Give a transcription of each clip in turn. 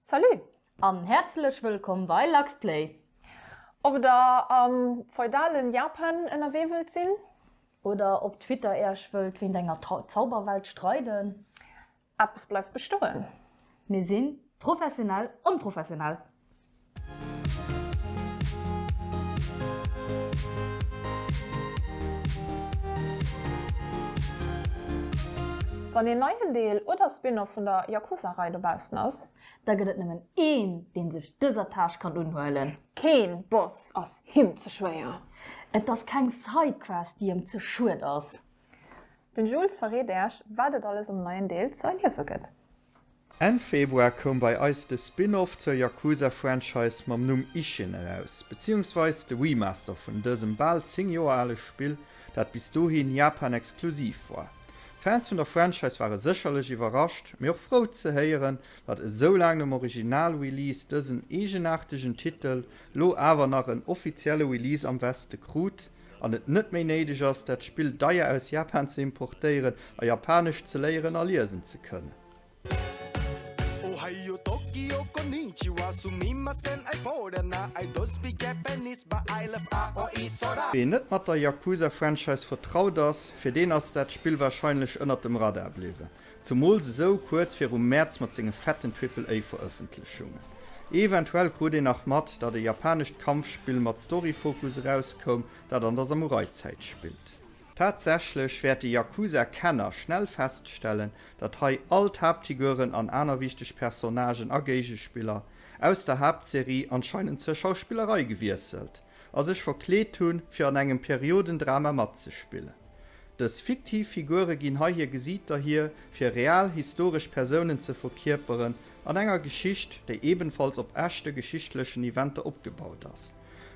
Salut an häerzlech wëllkomm bei LuxPlay! Ob der am feudalen Japan ënnerwee wëllt sinn? Oder op Twitter Äerch wëllt wéint enger Zauberwelt streiden? Eppes bleift bestoen! Mir sinn professionell onprofessionell! Wann een neien Deel oder Spin-off vun der Yakuza-Rei dobaussen ass. Da gëtt et nëmmen een, dee sech dëser Tâche kann unhuelen. Keen Boss ass him ze schwéier. Et ass keng Side-Quest, déi em ze schued ass. Den Jules verreet äech wat et alles am neien Deel ze erliewe gëtt. Enn Februar koum bei eis de Spin-off zur Yakuza Franchise mam Numm Ishin eraus, beziehungsweise de Remaster vun dësem bal 10 Joer ale Spill, dat bis dohin Japan exklusiv war. Fans vun der Franchise ware sécherlech iwwerrascht, mee och frou ze héieren, datt esou laang nom Original-Release dësen eegenaartegen Titel lo awer nach en offizielle Release am Weste krut, an et net méi néideg ass, dat Spill deier aus Japan ze importéieren a Japanesch ze léieren a liesen ze kënnen. Ween net mat der Yakuza-Franchise vertraut ass, fir deen ass dat Spill warscheinlech ënnert dem Radar bliwwen. Zemools esou kuerz virum Mäerz mat senge fetten Triple A Verëffentlechungen. Eventuell krut een nach mat, datt e japanescht Kampfspill mat Story-Fokus erauskoum, dat an der Samurai-Zäit spillt. Tatsächlech wäerte Yakuza-Kenner schnell feststellen, datt hei all d'Haaptfiguren an aner wichteg Personnagen a Géigespiller aus der Haaptserie anscheinend zur Schauspillerei gewiesselt, a sech verkleet hunn, fir an engem Periodendrama matzespillen. Dës fiktiv Figure ginn hei hir Gesiiter hier, fir real historesch Persounen ze verkierperen an enger Geschicht, déi ebenfalls op echte geschichtlechen Eventer opgebaut ass.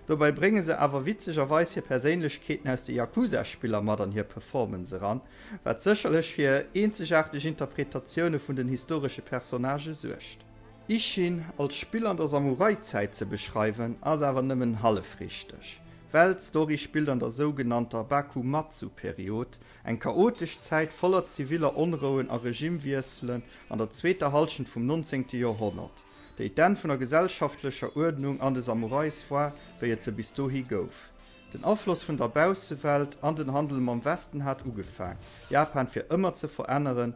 Dobäi brénge se awer witzegerweis hir Perséinlechkeeten aus de Yakuza-Spiller mat an hir Performance eran, wat sécherlech fir eenzegaarteg Interpretatioune vun den historesche Personnage suergt. Ishin als Spill an der Samurai-Zäit ze beschreiwen, ass awer nëmmen hallef richteg, well d'Story spillt an der sougenannter Bakumatsu-Period, eng chaotesch Zäit voller ziviller Onrouen a Regimewiesselen an der zweeter Hallschent vum nonzéngte Joerhonnert, déi d'Enn vun der gesellschaftlecher Uerdnung an de Samurais war, wéi et se bis dohi gouf. Den Afloss vun der Baussewelt an den Handel mam Westen hat ugefaang, Japan fir ëmmer ze veränneren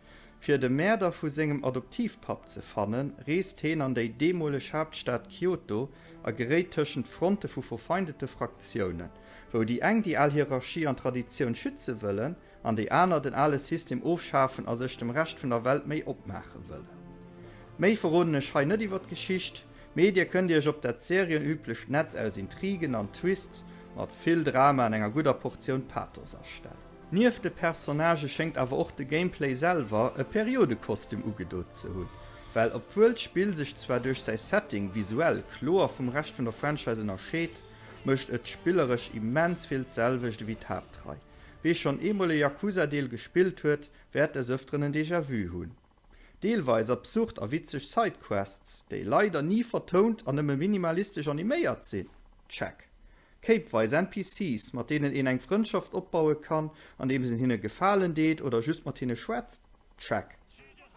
Fir de Mäerder vu sengem Adoptivpapp ze fannen, reest heen an déi deemoleg Haaptstad Kyoto a geréit tëschent Fronte vu verfeindete Fraktiounen, wou déi eng déi al Hierarchie an Traditioun schütze wëllen an déi aner den ale System ofschafen a sech dem Rescht vun der Welt méi opmaache wëllen. Méi verroden ech hei net iwwer d'Geschicht, mee dir kënnt iech op dat serienüblecht Netz aus Intrigen an Twists mat vill Drama an enger gudder Portioun Pathos astellen. Nieft de Personnagë schéngt awer och de Gameplay selwer e Periodekostüm ugedo ze hunn, well obwuel d'Spill sech zwar duerch säi Setting visuell kloer vum Rescht vun der Franchise ënnerscheet, mécht et spilleresch immens vill d'selwecht ewéi d'Haaptrei. Wee schonn eemol e Yakuza-Deel gespillt huet, wäert des Ëfteren en Déjà-vu hunn. Deelweis absurd a witzeg Sidequests, déi leider ni vertount an nëmme minimalistesch animéiert sinn, check. Kéipweis NPCs, mat deenen een eng Frëndschaft opbaue kann, andeems een hinne Gefalen deet oder just mat hinne schwätzt, check.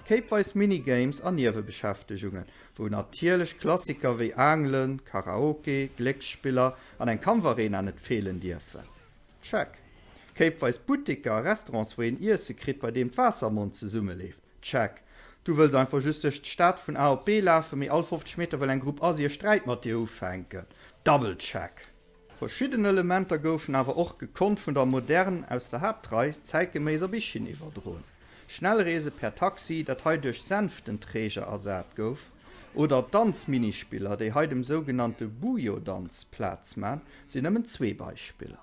Kéipweis Minigames a Niewebeschäftegungen, wou natierlech Klassiker wéi Aangelen, Karaoke, Glécksspiller an eng Kampfarena net feelen dierfen. Check. Kéipweis Butteker a Restaurants, wou een Iesse kritt, bei deem d'Waasser am Mond zesummeleeft? Check. Du wëlls einfach just duerch d'Stad vun A op B lafen, mee all 50 Meter wëll eng Grupp Assi e Sträit mat dir ufänken? Double check. Verschidden Elementer goufen awer och gekonnt vun der Modern aus der Haaptrei zäitgeméiss op eChine iwwerdroen. Schnellreese per Taxi, dat hei duerch Sänftenträger ersat gouf. Oder d'Danzminispiller, déi hei dem sougenannte Bujo-Danz Plaz man, sinn nëmmen zwee Beispiller.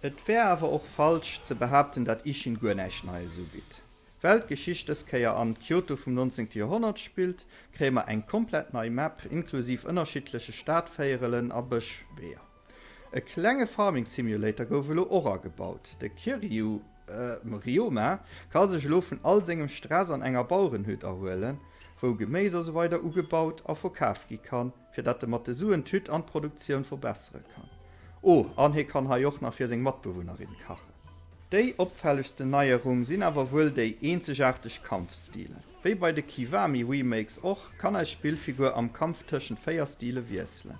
Et wär awer och falsch ze behaapten, dat Ishin guer näischt Neies ubitt. Well d'Geschicht dës Kéier am Kyoto vum nonzéngte Joerhonnert spillt, kréie mer eng komplett nei Map inklusiv ënnerschiddleche Stadvéierelen a Bëschweeër. E klenge Farming Simulator gouf elo och agebaut. De Kiryu Ryoma ka sech elo vun all sengem Stress an enger Bauerenhütt erhuelen, wou Geméis a sou weider ugebaut a verkaf gi kann, fir dat e mat de Suen d'Hütt an d'Produktioun verbessere kann. Oh, an hie kann hei och nach fir seng Matbewunnerin kachen. Déi opfällegsten Neierung sinn awer wuel déi eenzegaarteg Kampfstilen. Wéi bei de Kiwami Remakes och, kann eis Spillfigur am Kampf tëschent 4 Stile wiesselen.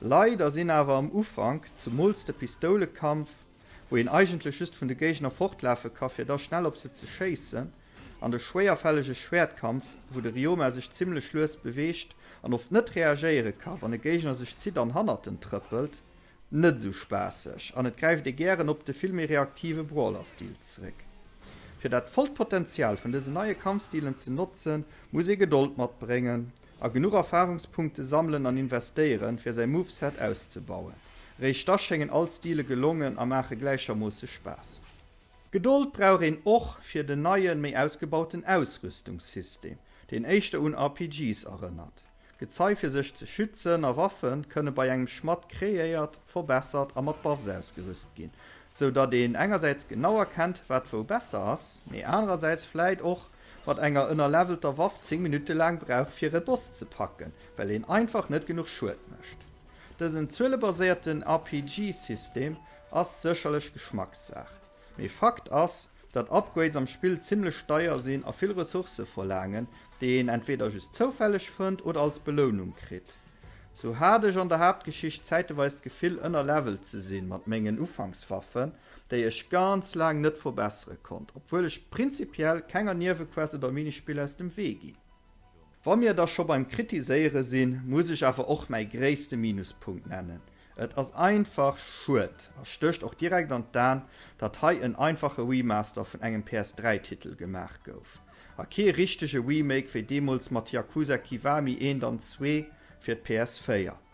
Leider sinn awer am Ufank, zemools de Pistoulekampf, wou een eigentlech just vun de Géigner fortlafe ka fir da schnell op se ze schéissen, an de schwéierfällege Schwäertkampf, wou de Ryoma sech zimmlech lues beweegt an oft net reagéiere ka wann e Géigner sech zitt an hannert en trëppelt, net esou spaasseg an et gräift ee gären op de vill méi reaktive Brawler-Stil zeréck. Fir dat vollt Potenzial vun dësen neie Kampfstilen ze notzen, muss ee Gedold matbréngen, A genuch Erfarungspunkte sammelen an investéieren, fir säi Moveset auszebauen. Eréischt da schéngen all Stile gelongen a maache gläichermoosse Spaass. Gedold brauch een och fir den neien, méi ausgebauten Ausrüstungssystem, deen éischter un RPGs erënnert. Gezei fir sech ze schützen a Waffe kënne bei engem Schmadd kreéiert, verbessert a mat Buffs ausgerüst ginn, sou datt een engersäits genau erkennt, wat wou besser ass, mee anerersäits vläit och, mat enger ënnerlevelter Waff 10 Minutte laang brauch fir e Boss ze packen, well een einfach net genuch Schued mécht. Dësen zuelebaséierten RPG-System ass sécherlech Geschmackssaach, mee Fakt ass, datt Upgrades am Spill zimmlech deier sinn a vill Ressourcë verlaangen, déi een entweeder just zoufälleg fënnt oder als Belounung kritt. Sou hat ech an der Haaptgeschicht zäiteweis d'Gefill ënnerlevelt ze sinn mat mengen Ufankswaffen, déi ech ganz laang net verbessere konnt, obwuel ech prinzipiell kenger Niewequest oder Minispill aus dem Wee ginn. Wa mir da scho beim Kritiséiere sinn, muss ech awer och mäi gréisste Minuspunkt nennen, Et ass einfach schued a stécht och direkt an d'An, datt hei en einfache Remaster vun engem PS3-Titel gemaach gouf a kee richtege Remake wéi deemools mat Yakuza Kiwami 1 an 2 fir d'PS4.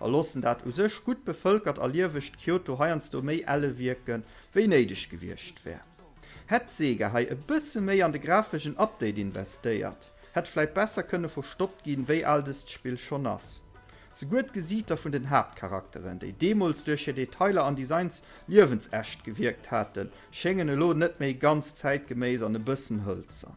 A loossen dat u sech gutt bevëlkert a liewegt Kyoto heiansdo méi elle wierke wéi néideg gewiescht wär. Hätt Sega hei e bësse méi an de grafegen Update investéiert, hätt vläit besser kënne verstoppt ginn, wéi al dëst Spill schonn ass. Souguer d'Gesiiter vun den Haaptcharakteren, déi deemools duerch hir Detailer an Designs liewensecht gewierkt haten, schéngen elo net méi ganz zäitgeméiss an e bëssen hëlzern.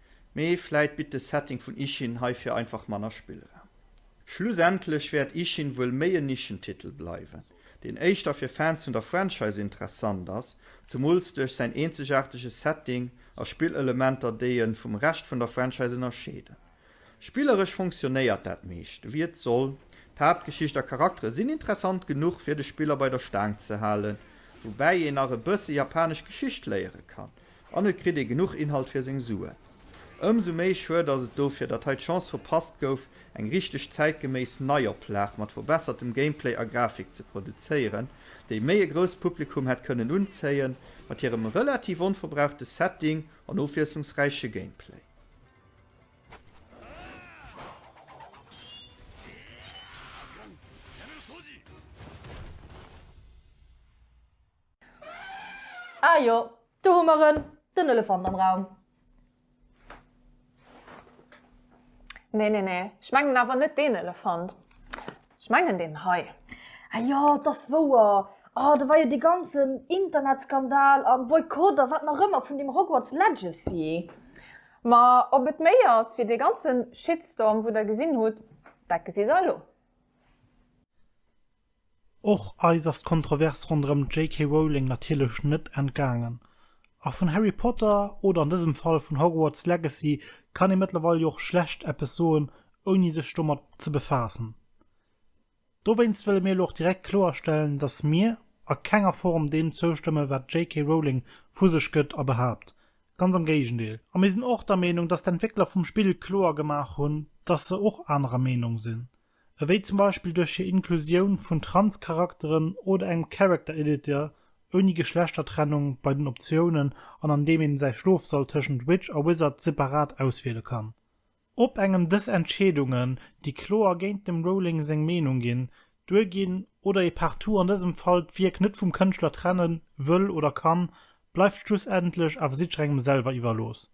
Mee vläit bitt de Setting vun Ishin heifir einfach manner Spillraum. Schlussendlech wäert Ishin wuel méi en Nischentitel bleiwen, deen éischter fir Fans vun der Franchise interessant ass, zemools duerch säin eenzegaartege Setting a Spillelementer, déi e vum Rescht vun der Franchise ënnerscheeden. Spilleresch funktionéiert dat meescht, ewéi et soll, d'Haaptgeschicht a Charaktere sinn interessant genuch, fir de Spiller bei der Staang ze halen, woubäi een nach e bësse japanesch Geschicht léiere kann. An et kritt ee genuch Inhalt fir seng Sue. Ëmsou méi schued ass et dofir, datt hei d'Chance verpasst gouf, eng richteg zäitgeméiss Neioplag mat verbessertem Gameplay a Grafik ze produzéieren, déi méi e grousst Publikum hätt kënnen unzéien, mat hirem relativ onverbrauchte Setting an ofwiesslungsräiche Gameplay. Ah jo, do hu mer en, den Elefant am Raum. Nee, nee, nee, ech mengen awer net deen Elefant. Ech mengen deen hei. Ah jo, 't ass wouer. Oh, do war jo dee ganzen Internetskandal a Boykott a wat nach ëmmer vun deem Hogwarts Legacy. Ma ob et méi ass wéi dee ganze Shitstorm, wou der gesinn hutt, dat gesi se elo. Och eis ass d'Kontrovers ronderëm d'JK. Rowling natierlech net entgaangen. A vun Harry Potter, oder an dësem Fall vun Hogwarts Legacy, kann ee mëttlerweil jo och schlecht eppes soen, ouni sech domat ze befaassen. Dowéinst wëlle mir elo och direkt kloerstellen, dass mir a kenger Form deem zoustëmmen, wat d'JK. Rowling vu sech gëtt a behaapt. Ganz am Géigendeel. A mir sinn och der Meenung, dass d'Entwéckler vum Spill kloer gemaach hunn, dass se och anerer Meenung sinn. ewéi zum Beispill duerch hir Inklusioun vun Trans-Charakteren oder engem Character Editor ouni Geschlechtertrennung bei den Optiounen an an deem een säi Schlofsall tëschent Witch a Wizard separat auswiele kann. Op engem dës Entscheedungen, déi kloer géint dem Rowling seng Meenung ginn, duerginn oder ee partout an dësem Fall d'Wierk net vum Kënschtler trennen wëll oder kann, bleift schlussendlech awer jiddrengem selwer iwwerlooss.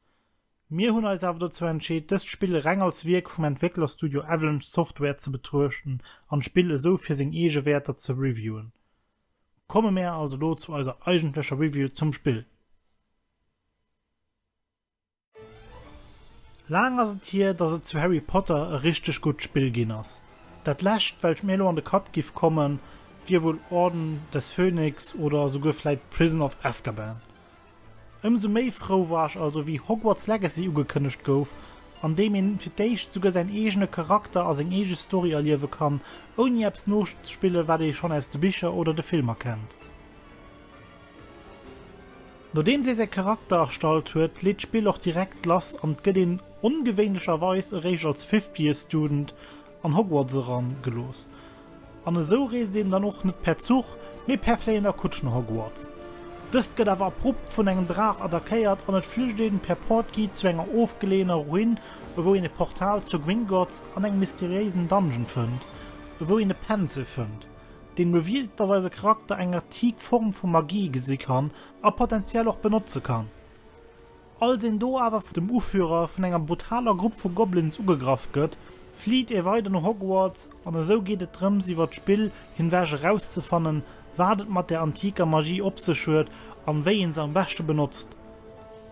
Mir hunn eis awer dozou entscheet, dëst Spill reng als Wierk vum Entwécklerstudio Avalanche Software ze betruechten an d'Spill esou fir seng eege Wäerter ze reviewen. Komme mär also elo zu eiser eigentlecher Review zum Spill. Laang ass et hier, dass et zu Harry Potter e richteg gutt Spill ginn ass. Dat lescht, welch mir elo an de Kapp giff kommen, wier wuel Orden des Phönix oder souguer vläit Prison of Azkaban. Ëmsou méi frou war ech also wéi Hogwarts Legacy ugekënnegt gouf, an deem een fir d'éischt souguer säin eegene Charakter a seng eege Story erliewe kann, ouni eppes noszespillen, wat ee schonn aus de Bicher oder de Filmer kennt. Nodeems ee säi Charakter erstallt huet, leet d'Spill och direkt lass an 't gëtt een ongewéinlecherweis eréischt als Fifth Year Student an Hogwarts eran gelooss. An esou reest een dann och net per Zuch, mee per fléiender Kutsch no Hogwarts. Dëst gëtt awer abrupt vun engem Draach attackéiert an et flücht een per Portkey zu enger ofgeleeëner Ruin, ewou een e Portal zur Gringotts an engem mysteriéisen Dungeon fënnt, ewou een e Pencil fënnt, deen revealt, dass eise Charakter eng antik Form vu Magie gesi kann a potentiell och benotze kann. Als een do awer vun dem Uführer vun enger brutaler Grupp vu Goblins ugegraff gëtt, flitt ee weider no Hogwarts an esou geet et drëms iwwer d'Spill hinwech erauszefannen, wat et mat der antiker Magie op sech huet an wéi een se am beschte benotzt.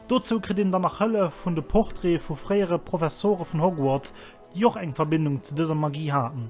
Dozou kritt een dann nach Hëllef vun de Portraite vu fréiere Professore vun Hogwarts, déi och eng Verbindung zu dëser Magie haten.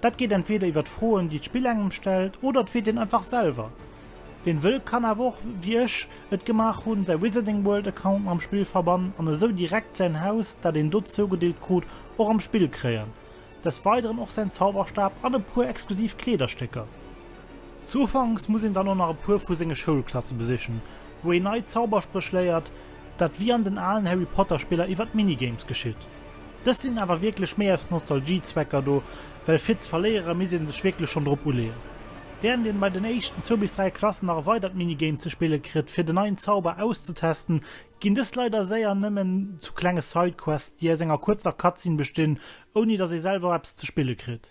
Dat geet entweeder iwwer d'Froen, déi d'Spill engem stellt, oder et wiert een einfach selwer. Wien wëll kann awer och, wéi ech et gemaach hunn, säi Wizarding World Account mam Spill verbannen an esou direkt säin Haus, dat een do zougedeelt krut, och am Spill kréien. Des Weideren och säin Zauberstab an e puer exklusiv Kleederstécker. Zu Ufanks muss een dann och nach e puer vu senge Schoulklasse besichen, wou een nei Zauberspréch léiert, Dat wéi an den alen Harry Potter Spiller iwwert Minigames geschitt. Dës sinn awer wierklech méi aus Nostalgie-Zwecker do, well fir ze verléiere misst ee sech wierklech schonn drop uleeën. Wärend een bei den éischten zwou bis dräi Klassen nach e weidert Minigame ze spille kritt fir den neien Zauber auszetesten, ginn dës leider séier nëmmen zu klenge Side-Quests, déi aus enger kuerzer Cutscene bestinn, ouni datt ee selwer eppes ze spille kritt.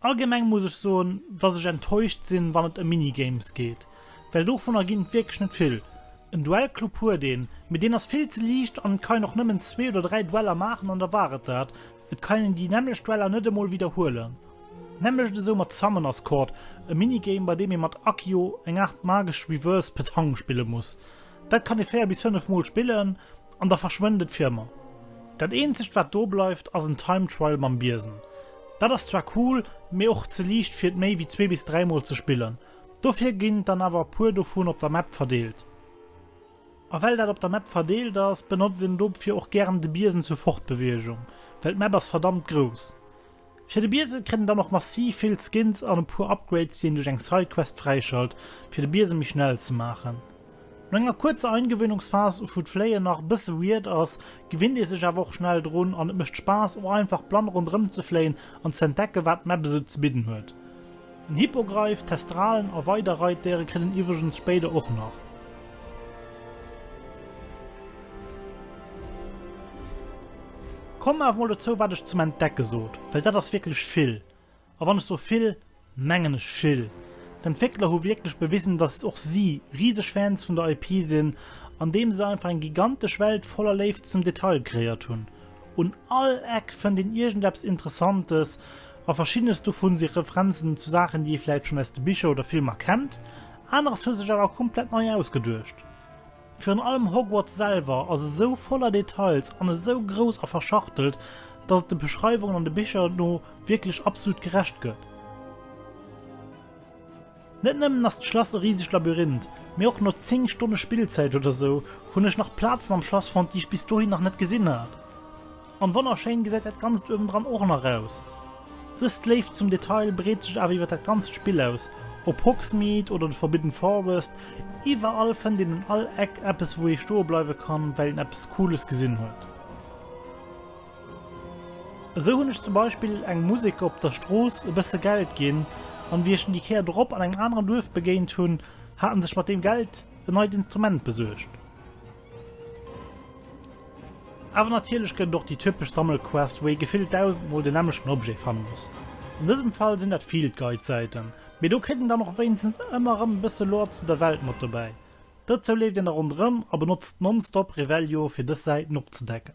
Allgemeng muss ech soen dass ech enttäuscht sinn wann et em Minigames geet, well dovunner ginn et wierklech net vill. En Duellclub huet een, mee deen ass vill ze liicht an et kann een och nëmmen zwee oder dräi Dueller maachen an da war et dat. Et kann een déi nämmlecht Dueller net emol widderhuelen. Nämmlecht esou mat Summoners Court, e Minigame bei deem ee mat Accio eng Aart magesch Reverse Petanque spille muss. Dat kann ee 4 bis 5 mol spillen. An da verschwënnt et fir ëmmer. Dat eenzegt wat do bleift ass en Time Trial mam Biesen. Dat ass zwar cool, mee och ze liicht fir et méi wéi zwee bis dräi mol ze spillen. Dofir ginn et dann awer e puer dovun op der Map verdeelt. A well dat op der Map verdeelt ass, benotzt een dofir och gären de Biesen zur Fortbeweegung, well d'Map ass verdammt grouss. Fir de Biesem kritt en dann och massiv vill Skins an e puer Upgrades, déi een duerch eng Sidequest fräischalt, fir de Biesem méi schnell ze maachen. No enger kuerzer Eingewöhnungsphas, uvu d'Fléien nach e bësse weird ass, gewinnt ee sech awer och schnell drun an et mécht Spaass och einfach blann ronderëm ze fléien an ze entdecken, wat d'Map esou ze bidden huet. Den Hippogreif, Thestralen a weider Reitdéiere kritt en iwwregens spéider och nach. Kommen awer mol dozou wat ech zum Entdecke sot, well dat ass wierklech vill. A wann ech so vill, mengen ech vill. D'Entwéckler hu wierklech bewisen, dass och si riseg Fans vun der IP sinn, andeem se einfach eng gigantesch Welt voller Léift zum Detail kreéiert hunn. Un all Eck fënnt een iergendeppes Interessantes, a verschiddenes dovun si Referenzen zu Saachen, déi ee vläit schonn aus de Bicher oder Filmer kennt, aneres huet sech awer komplett nei ausgeduecht. Virun allem Hogwarts selwer ass esou voller Details an esou grouss a verschachtelt, dass et de Beschreiwungen an de Bicher no wierklech absolut gerecht gëtt. Net nëmmen ass d'Schlass e risegt Labyrinth, mee och no 10 Stonne Spillzäit oder sou hunn ech nach Plazen am Schlass fonnt, déi ech bis dohin nach net gesinn hat. An wonnerschéin gesäit dat Ganzt uewendran och nach aus. Dës Léift zum Detail breet sech awer iwwer dat ganzt Spill aus, Op Hogsmeade oder de Forbidden Forest, iwwerall fënnt een un all Eck eppes wou ee stoe bleiwe kann, well een eppes Cooles gesinn huet. Esou hunn ech zum Beispill engem Museker op der Strooss e bësse Geld ginn, an wéi ech en déi Kéier drop an engem aneren Duerf begéint hunn, hat en sech mat deem Geld en neit Instrument besuergt. Awer natierlech gëtt et och déi typesch Sammelquest, wou ee gefillt dausendmol den nämmlechten Objet fanne muss. An dësem Fall sinn dat Field Guide Säiten, mee do kritt een dann och wéinstens ëmmer erëm e bësse Lore zu der Welt mat dobäi. Dozou leeft een da ronderëm a benotzt nonstop Revelio fir dës Säiten opzedecken.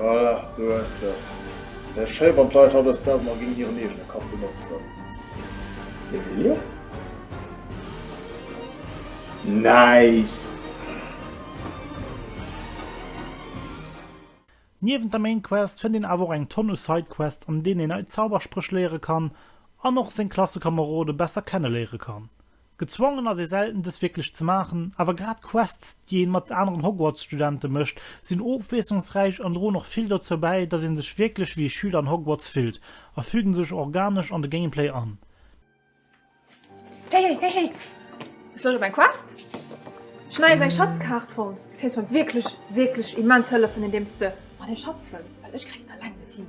Voilà, du hues dat. Wär schéi wann d'Leit hautdesdaags mol géint hiren eegene Kapp benotzen. Emilio? Nice! Niewent der Main Quest fënnt een awer och eng Tonn u Side Quests an deenen een nei Zauberspréch léiere kann an och seng Klassekamerode besser kenneléiere kann. Gezwongen ass ee selten dës wierklech ze maachen, awer grad d'Quests, déi een mat aneren Hogwarts-Studente mécht, sinn ofwiesslungsräich an droen och vill dozou bäi, dass een sech wierklech wéi e Schüler an Hogwarts fillt, a fügen sech organesch an de Gameplay an. Hey, hey, hey, hey! Hues Loscht op eng Quest? Ech hunn nees eng Schatzkaart fonnt. Du kéints mer wierklech, wierklech immens hëllefen, indeems de mer dee Schatz fënns, well ech kréien et alleng net hin.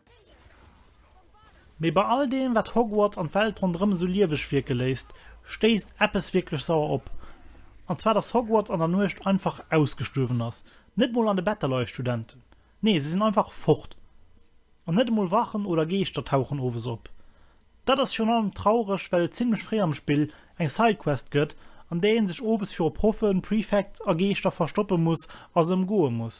Mee bei all deem, wat Hogwarts an d'Welt ronderëm esou lieweg wierke léisst, stéisst eppes wierklech sauer op. An zwar, dass Hogwarts an der Nuecht einfach ausgestuerwen ass. Net mol an de Better leie Studenten. Nee, se sinn einfach fort. An net emol Wachen oder Geeschter tauchen owes op. Dat ass virun allem traureg, well et zimmlech fréi am Spill eng Sidequest gëtt, an där ee sech owes viru Proffen, Prefects a Geeschter verstoppe muss a se ëmgoe muss.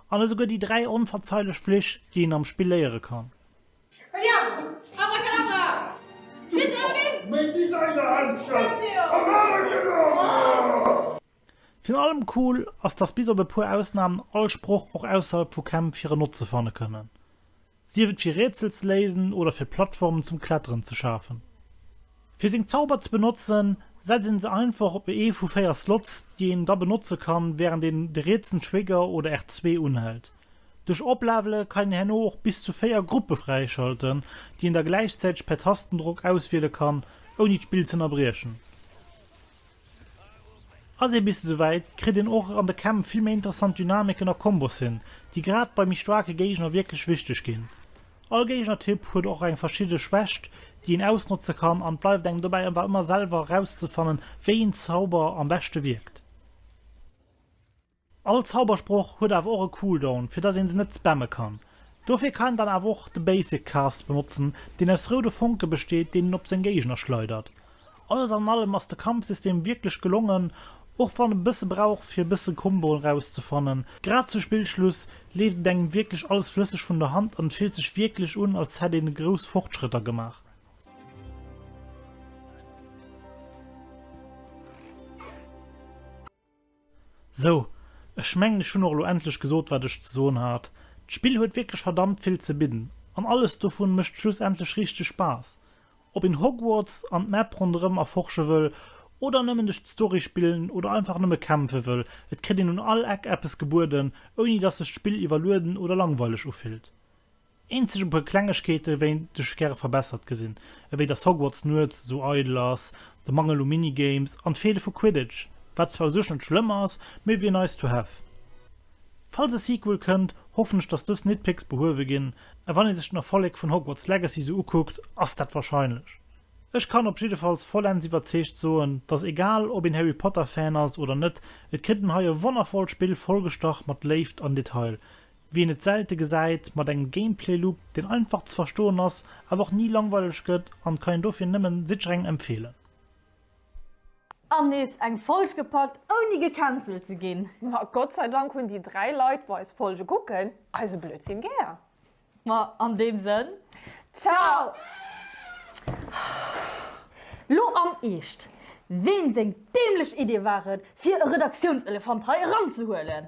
An esouguer déi dräi onverzeilech Flich, déi een am Spill léiere kann. Expelliarmus! Abracadabra! Sinn der erëm! Méi Designer-Händschen! Abracadabra! Virun allem cool ass, dass bis op e puer Ausnahmen all Sproch och ausserhalb vu Kämpf hiren Notze fanne kënnen. sief et fir Rätsel ze léisen oder fir Plattformen zum Kletteren ze schafen. Fir seng Zauber ze benotzen, setzt een se einfach op ee vu 4 Slots, déi een da benotze kann, wärend een de rietsen Trigger oder R2 unhält. Duerch Oplevele kann een herno och bis zu 4 Gruppe fräischalten, déi een da gläichzäiteg per Tastendrock auswiele kann, ouni d'Spill z'ënnerbriechen. Ass ee bis esouwäit, kritt een och an de Kämpf vill méi interessant Dynamiken a Kombos hin, déi grad bei méi staarke Géigner wierklech wichteg ginn. All Géigner-Typ huet och eng verschidde Schwächt, déi een ausnotze kann an et bleift engem dobäi awer ëmmer selwer erauszefannen, wéi een Zauber am beschte wierkt. All Zaubersproch huet awer och e Cooldown, fir dass een se net spammen kann. Dofir kann een dann awer och de Basic Cast benotzen, deen aus roude Fonke besteet, deen een op seng Géigner schleidert. Alles an allem ass de Kampfsystem wierklech gelongen, och wann e bësse brauch fir e bësse Comboen erauszefannen. Grad zu Spillschluss leeft et engem wierklech alles flësseg vun der Hand an et fillt sech wierklech un, als hätt een grouss Fortschrëtter gemaach. Sou, ech mengen ech hunn och elo endlech gesot wat ech ze soen hat. D'Spill huet wierklech verdammt vill ze bidden an alles dovun mécht schlussendlech richteg Spaass. Ob een Hogwarts an d'Map ronderëm erforsche wëll oder nëmmen duerch d'Story spillen oder einfach nëmme kämpfe wëll, et kritt een un all Eck eppes gebueden, ouni dass sech d'Spill iwwerlueden oder langweileg ufillt. Eenzeg e puer Klengegkeeten wéint ech gäre verbessert gesinn, ewéi dass Hogwarts nuets esou eidel ass, de Mangel u Minigames an d'Feele vu Quidditch, wat zwar u sech net schlëmm ass, mee wier nice to have. Falls e Sequel kënnt, hoffen ech dass dës Nitpicks behuewe ginn, a wann ee sech den Erfolleg vun Hogwarts Legacy sou ukuckt, ass dat wahrscheinlech. Ech kann op jiddefalls vollends iwwerzeegt soen, dass egal ob een Harry Potter Fan ass oder net, et kritt en hei e wonnervollt Spill vollgestach mat Léift an Detail, Wien et selte gesäit, mat engem Gameplay Loop, deen einfach ze verstoen ass, awer och ni langweileg gëtt, an kann een dofir nëmmen Sitzereng empfehlen. An nees eng Folg gepackt ouni gecancelt ze ginn. Ma Gott sei Dank hunn déi 3 Leit wou eis Folge kucken eise Blödsinn gär. Ma an deem Sënn, Ciao! Lo am Eescht, Weem seng dämlech Idee war et, fir e Redaktiounselefant hei eranzehuelen?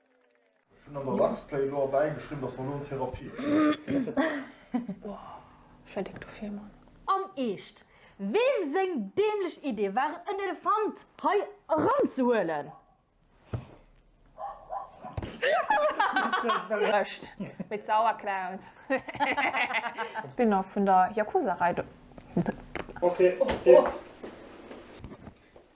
Ech hunn an der Luxplay elo erbäi geschriwwen, dass mer elo an d'Therapie steigen. Am Eescht, weem seng dämlech Idee war et en Elefant hei eran ze huelen? Rëscht mit Sauerkraut. Spin-off vun der Yakuza-Rei.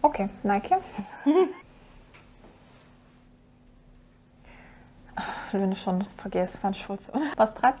Ok, nei Key. Lo hunn ech schonn vergiess wat ech wollt soen. Bass prett?